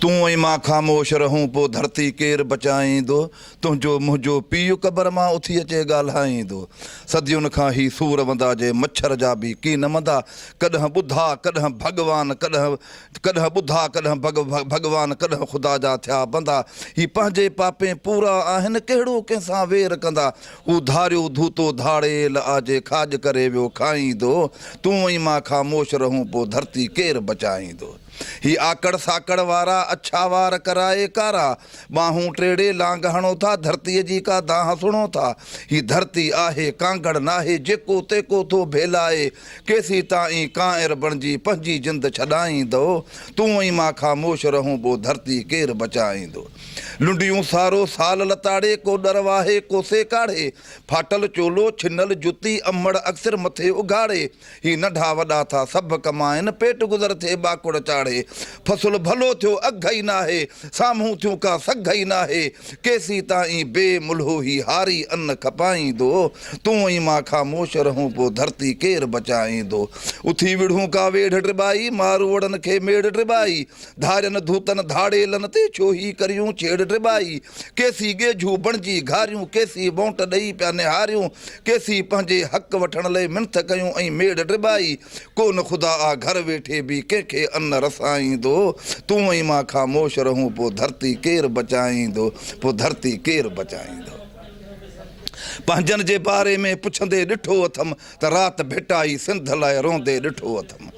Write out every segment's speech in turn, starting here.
تون ۽ مان خاموش رهون پوء ڌرتي ڪير بچائيندو تنهنجو منهنجو پيء قبر مان اٿي اچي ڳالهائيندو صدين کان هي سور وندا جي مڇر جا به ڪين مندا ڪڏهن ٻڌا ڪڏهن ڀڳوان ڪڏهن ڪڏهن ٻڌا ڪڏهن ڀڳ ڀڳوان ڪڏهن خدا جا ٿيا بندا هي پنهنجي پاپين پورا آهن ڪهڙو ڪنهن سان وير ڪندا هو ڌاريو ڌوتو ڌاڙيل آجي کاڄ ڪري ويو کائيندو تون ۽ مان خاموش رهون پو ڌرتي ڪير بچائيندو هي آڪڙ ساڪڙ وارا اڇا وار ڪرائي ڪارا ٻانهون ٽيڙي لانگ هڻو ٿا ڌرتي جي ڪا دانهن سڻو ٿا هي ڌرتي آهي ڪانگڙ ناهي جيڪو تيڪو ٿو ڀيلائي ڪيسين تائين ڪانئر بڻجي پنهنجي جند ڇڏائيندو، تون ۽ مان خاموش رهون ٻو ڌرتي ڪير بچائيندو. لنڊيون سارو سال لتاڙي ڪو ڏر واهي ڪو سيڪاڙي، ڦاٽل چولو ڇنل جتي امڙ اڪثر مٿي اگهاڙي، هي ننڍا وڏا ٿا سڀ ڪمائن پيٽ گذر ٿئي ٻاڪڙ چاڙهي، فصل ڀلو ٿيو اگهه ئي ناهي، سامهون ٿيون ڪا سگهه ئي ناهي، ڪيسين تائين بي ملهو هي هاري ان کپائيندو، تون ۽ مان خاموش رهون پوء ڌرتي ڪير بچائيندو، اٿي وڙهون ڪا ويڙهه ٽٻائي، ماروئڙن کي ميڙ ٽٻائي، ڌارين ڌوتن ڌاڙيلن تي ڇو هي ڪريون ڇيڙ ٽٻائي، ڪيسين ڳيجهو بڻجي گهاريون، ڪيسين ٻونٽ ڏئي پيا نهاريون، ڪيسين پنهنجي حق وٺڻ لئي منٿ ڪيون ۽ ميڙ ٽٻائي، ڪو نه خدا آ گهر ويٺي به ڪنهن کي ان رسائيندو تون ۽ مان خاموش رهون پو ڌرتي ڪير بچائيندو پو ڌرتي ڪير بچائيندو پنهنجن جي باري ۾ پڇندي ڏٺو اٿم ته رات ڀٽائي سنڌ لاء روندي ڏٺو اٿم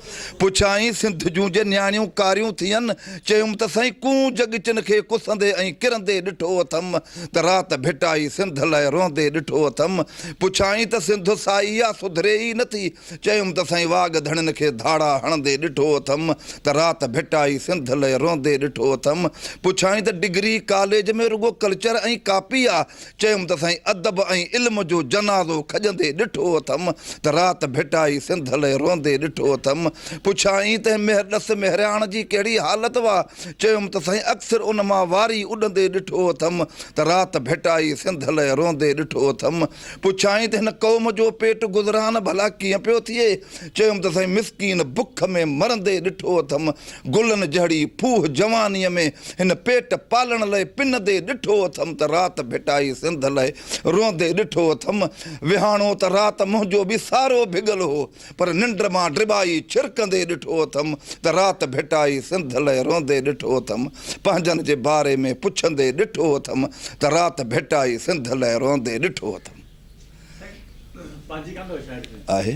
پڇيائين سنڌ جون جي نياڻيون ڪاريون ٿين چيم ته سائين ڪون جڳچن کي ڪسندي ۽ ڪرندي ڏٺو اٿم ته رات ڀٽائي سنڌ لاء روندي ڏٺو اٿم پڇيائين ته سنڌ سائي آ سڌري ئي نٿي چيم ته سائين واڳ ڌڻين کي ڌاڙا هڻندي ڏٺو اٿم ته رات ڀٽائي سنڌ لئه روئندي ڏٺو اٿم. پڇيائين ته ڊگري ڪاليج ۾ رڳو ڪلچر ۽ ڪاپي آ؟ چيم ته سائين ادب ۽ علم جو جنازو کڄندي ڏٺو اٿم ته رات ڀٽائي سنڌ لئه روئندي ڏٺو اٿم. پڇيائين ته مهر ڏس مهرياڻ جي ڪهڙي حالت وا؟ چيم ته سائين اڪثر ان مان واري اڏندي ڏٺو اٿم ته رات ڀٽائي سنڌ لئه روئندي ڏٺو اٿم. پڇيائين ته هن قوم جو پيٽ گذران ڀلا ڪيئن پيو ٿئي؟ چيم ته سائين مسڪين بک ۾ مرندي ڏٺو اٿم، گلن جهڙي ڦوهه جوانيء ۾ هن پيٽ پالڻ لئه پنندي ڏٺو اٿم ته رات ڀٽائي سنڌ لئه روئندي ڏٺو اٿم، وهاڻو ته رات منهنجو به سارو ڀڳل هو. پر ننڊ مان ڊٻائي ڇرڪندي ڏٺو اٿم ته رات ڀٽائي سنڌ لئه روئندي ڏٺو اٿم پنهنجن جي باري ۾ پڇندي ڏٺو اٿم ته رات ڀٽائي سنڌ لئه روئندي ڏٺو اٿم آهي